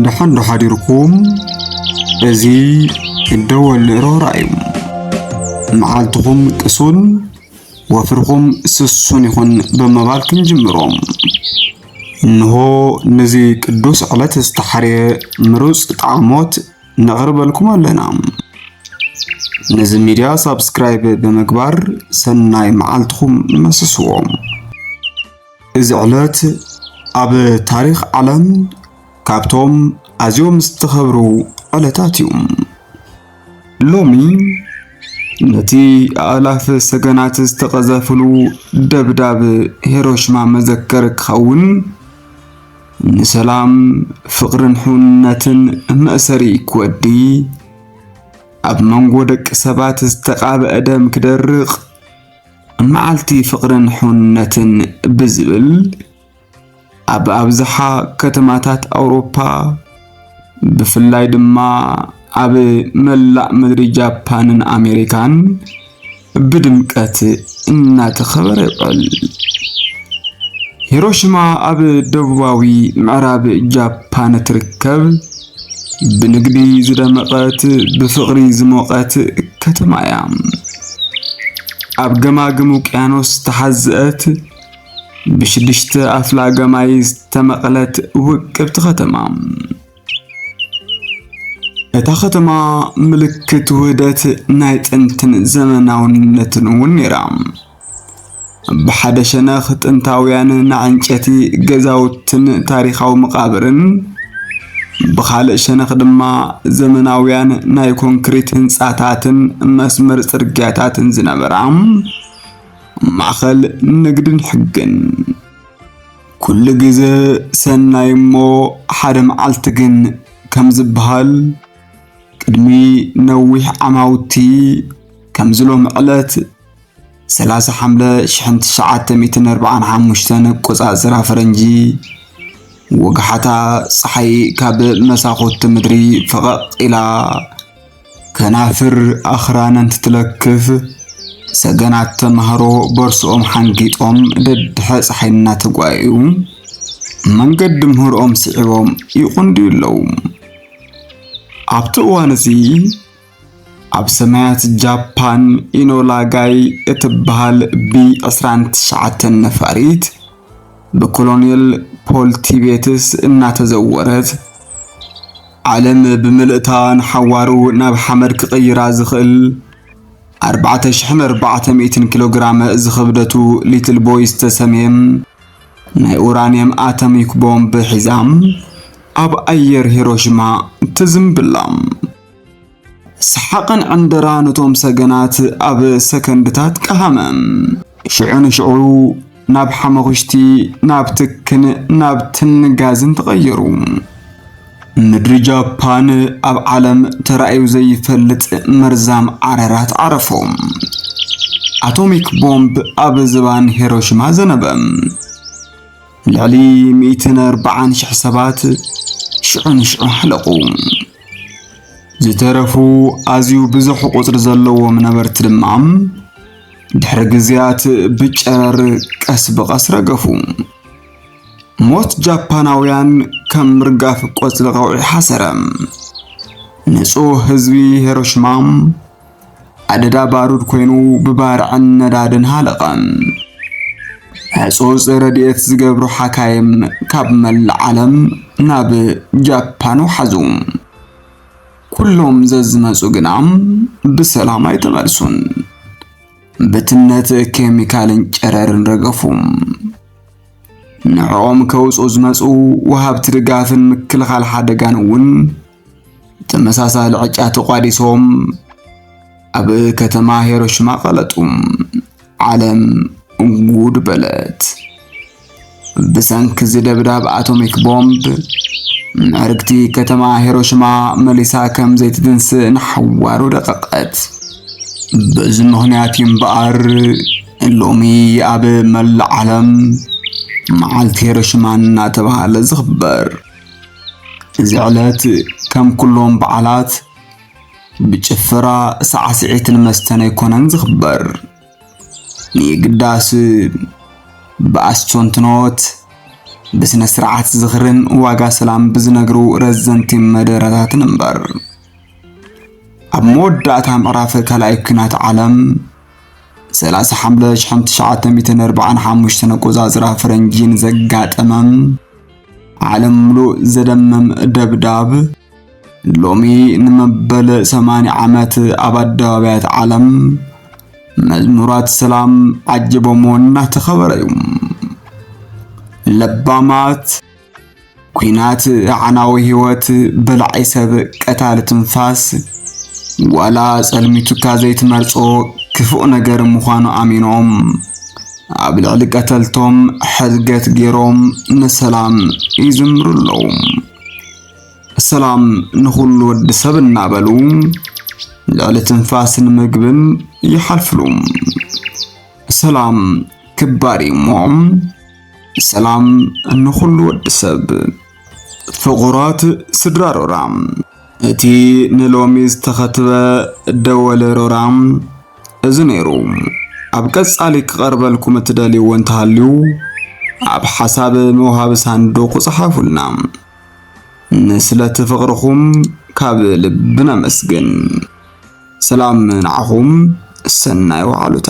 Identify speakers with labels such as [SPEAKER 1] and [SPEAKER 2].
[SPEAKER 1] ደሓን ዶ ሓዲርኩም እዚ እደወል ንእሮራ እዩ መዓልትኹም ቅሱን ወፍርኹም ስሱን ይኹን ብምባል ክንጅምሮ እንሆ ነዚ ቅዱስ ዕለት ዝተሓርየ ምሩፅ ጣዕሞት ነቕርበልኩም ኣለና ነዚ ሚድያ ሳብስክራይብ ብምግባር ሰናይ መዓልትኹም መስስዎም እዚ ዕለት ኣብ ታሪኽ ዓለም ካብቶም ኣዝዮም ዝተኸብሩ ዕለታት እዩ። ሎሚ ነቲ ኣእላፍ ሰገናት ዝተቐዘፍሉ ደብዳብ ሄሮሽማ መዘከር ክኸውን ንሰላም ፍቕርን ሕውነትን መእሰሪ ክወዲ ኣብ መንጎ ደቂ ሰባት ዝተቓበአ ደም ክደርቕ መዓልቲ ፍቕርን ሕውነትን ብዝብል ኣብ ኣብዝሓ ከተማታት ኣውሮፓ ብፍላይ ድማ ኣብ መላእ ምድሪ ጃፓንን ኣሜሪካን ብድምቀት እናተኸበረ ይውዕል። ሂሮሽማ ኣብ ደቡባዊ ምዕራብ ጃፓን እትርከብ ብንግዲ ዝደመቐት ብፍቕሪ ዝሞቐት ከተማ እያ። ኣብ ገማግም ውቅያኖስ ዝተሓዝአት ብሽድሽተ ኣፍላገ ማይ ዝተመቐለት ውቅብቲ ከተማ። እታ ከተማ ምልክት ውህደት ናይ ጥንትን ዘመናውነትን እውን ነይራ። ብሓደ ሸነኽ ጥንታውያን ናይ ዕንጨቲ ገዛውትን ታሪኻዊ መቓብርን፣ ብኻልእ ሸነኽ ድማ ዘመናውያን ናይ ኮንክሪት ህንጻታትን መስመር ጽርግያታትን ዝነበራ ማእከል ንግድን ሕግን። ኩሉ ግዘ ሰናይ እሞ ሓደ መዓልቲ ግን ከም ዝበሃል ቅድሚ ነዊሕ ዓማውቲ ከምዚ ሎሚ ዕለት ሰላሳ ሓምለ ሽሕን ትሽዓተ ሚእትን ኣርብዓን ሓሙሽተን ኣቆጻጽራ ፈረንጂ ወግሓታ ፀሓይ ካብ መሳኹቲ ምድሪ ፈቐቕ ኢላ ከናፍር ኣኽራን እንትትለክፍ ሰገናት ተምሃሮ ቦርስኦም ሓንጊጦም ደድሐ ፀሓይ እናተጓየዩ መንገዲ ምህርኦም ስዒቦም ይቑንድዩ ኣለዉ። ኣብቲ እዋን እዚ ኣብ ሰማያት ጃፓን ኢኖላ ጋይ እትበሃል ብ29 ነፋሪት ብኮሎኔል ፖል ቲቤትስ እናተዘወረት ዓለም ብምልእታ ንሓዋሩ ናብ ሓመድ ክቕይራ ዝኽእል 4400 ኪሎ ግራም ዝኽብደቱ ሊትል ቦይ ዝተሰምየ ናይ ኡራንየም ኣተሚክ ቦምብ ሒዛ ኣብ ኣየር ሂሮሽማ ትዝምብላ። ሰሓቕን ዕንደራ ነቶም ሰገናት ኣብ ሰከንድታት ቀሃመ። ሽዑ ንሽዑ ናብ ሓመኹሽቲ ናብ ትክን ናብ ትንጋዝን ተቐየሩ። ምድሪ ጃፓን ኣብ ዓለም ተራእዩ ዘይፈልጥ መርዛም ዓረራት ዓረፎም። ኣቶሚክ ቦምብ ኣብ ዝባን ሄሮሽማ ዘነበ። ልዕሊ 140 ሽሕ ሰባት ሽዑ ንሽዑ ሃለቑ። ዝተረፉ ኣዝዩ ብዙሕ ቁጽሪ ዘለዎም ነበርቲ ድማ ድሕሪ ግዜያት ብጨረር ቀስ ብቐስ ረገፉ። ሞት ጃፓናውያን ከም ምርጋፍ ቆጽሊ ቀውዒ ሓሰረ። ንጹህ ህዝቢ ሄሮሽማ ኣደዳ ባሩድ ኮይኑ ብባርዕን ነዳድን ሃለቐ። ሕጹጽ ረድኤት ዝገብሩ ሓካይም ካብ መላእ ዓለም ናብ ጃፓን ወሓዙ። ኩሎም ዘዝመጹ ግና ብሰላም ኣይተመልሱን። ብትነት ኬሚካልን ጨረርን ረገፉ። ንዕኦም ከውጹ ዝመጹ ወሃብቲ ድጋፍን ምክልኻል ሓደጋን እውን ተመሳሳሊ ዕጫ ተቋዲሶም ኣብ ከተማ ሄሮሽማ ቀለጡ። ዓለም እንጉድ በለት። ብሰንኪ እዚ ደብዳብ ኣቶሚክ ቦምብ ምዕርግቲ ከተማ ሄሮሽማ መሊሳ ከም ዘይትትንስእ ንሓዋሩ ደቀቐት። በዚ ምኽንያት እዩ እምበኣር ሎሚ ኣብ መላእ ዓለም መዓልቲ ሄሮሽማ እናተባህለ ዝኽበር። እዚ ዕለት ከም ኩሎም በዓላት ብጭፈራ ሳዕስዒትን መስተን ኣይኮነን ዝኽበር። ንየግዳስ ብኣስተንትኖት ብስነ ስርዓት ዝኽርን ዋጋ ሰላም ብዝነግሩ ረዘንቲ መደረታትን እምበር ኣብ መወዳእታ ምዕራፍ ካልኣይ ኲናት ዓለም 30 ሓምለ 1945 ኣቆጻጽራ ፈረንጂን ዘጋጠመም ዓለም ምሉእ ዘደምም ደብዳብ ሎሚ ንመበል 80 ዓመት ኣብ ኣደባባያት ዓለም መዝሙራት ሰላም ዓጅቦሞ እናተኸበረ እዩ። ለባማት ኩናት ኣዕናዊ ህይወት በላዒ ሰብ ቀታሊ ትንፋስ ዋላ ጸልሚቱካ ዘይትመርጾ ክፉእ ነገር ምዃኑ ኣሚኖም ኣብ ልዕሊ ቀተልቶም ሕድገት ገይሮም ንሰላም ይዝምሩ ኣለዉ። ሰላም ንኹሉ ወዲ ሰብ እናበሉ ልዕሊ ትንፋስን ምግብን ይሓልፍሉ። ሰላም ክባር እዩ እሞ ሰላም ንኹሉ ወዲ ሰብ። ፍቑራት ስድራ ሮራ እቲ ንሎሚ ዝተኸትበ ደወለ ሮራ እዚ ነይሩ። ኣብ ቀጻሊ ክቐርበልኩም እትደልይዎ እንተሃልዩ ኣብ ሓሳብ መውሃቢ ሳንዱቕ ጸሓፉልና። ንስለቲ ፍቕርኹም ካብ ልቢ ነመስግን። ሰላም ንዓኹም፣ ሰናይ ወዓሉታ።